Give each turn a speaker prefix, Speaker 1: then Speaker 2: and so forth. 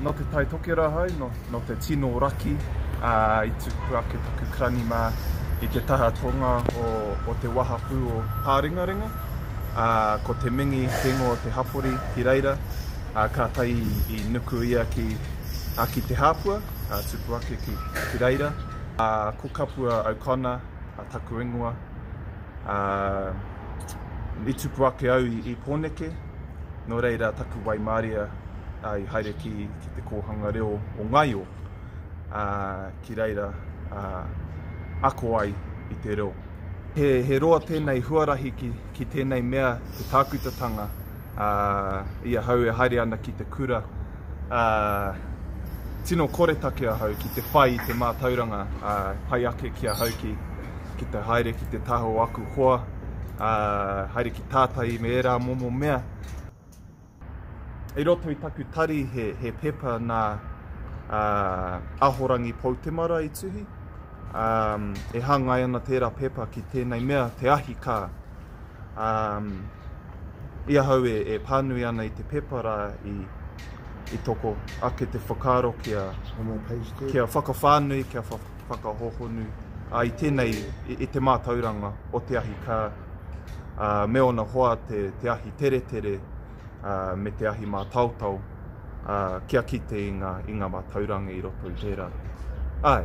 Speaker 1: Nō Te Tai Tokerau hau, nō, nō te tino raki ā, i tuku ake taku karani mā i te taha tonga o, o te wahapū o Pārengarenga. Ā, ko te mingi te ingoa o te hapori ki reira, ā, kātahi i nuku ia ki, ā, ki Te Hāpua. a Tupuake ki reira, ā, ko Kapua O'Connor a taku ingoa, ā, i Tupuake au i, i Pōneke, nō reira taku waimaria ā, i haere ki, ki te kōhanga reo o Ngaio, ā, ki reira ā, ako ai i te reo. He, he roa tēnei huarahi ki, ki tēnei mea te tākutatanga ā, i ahau e haere ana ki te kura, ā, tino koretake ahau ki te whai i te mātauranga, ā, pai ake ki ahau ki, ki te haere ki te taha o aku hoa, ā, haere ki tātai me ērā momo mea. I roto i taku tari he, he pepa nā, ā, Ahorangi Poutemara i tuhi, ā, e hāngai ana tērā pepa ki tēnei mea, te ahi kā. Um, i ahau e, e pānui ana i te pepa rā i, i toko ake te whakaaro kia, kia whakawhānui, kia whakahohonu a, i tēnei, i, i te mātauranga o te ahi kā uh, me ona hoa te, te ahi teretere me te ahi mātaotao kia kite i ngā, i ngā mātauranga i roto i tērā. Ai.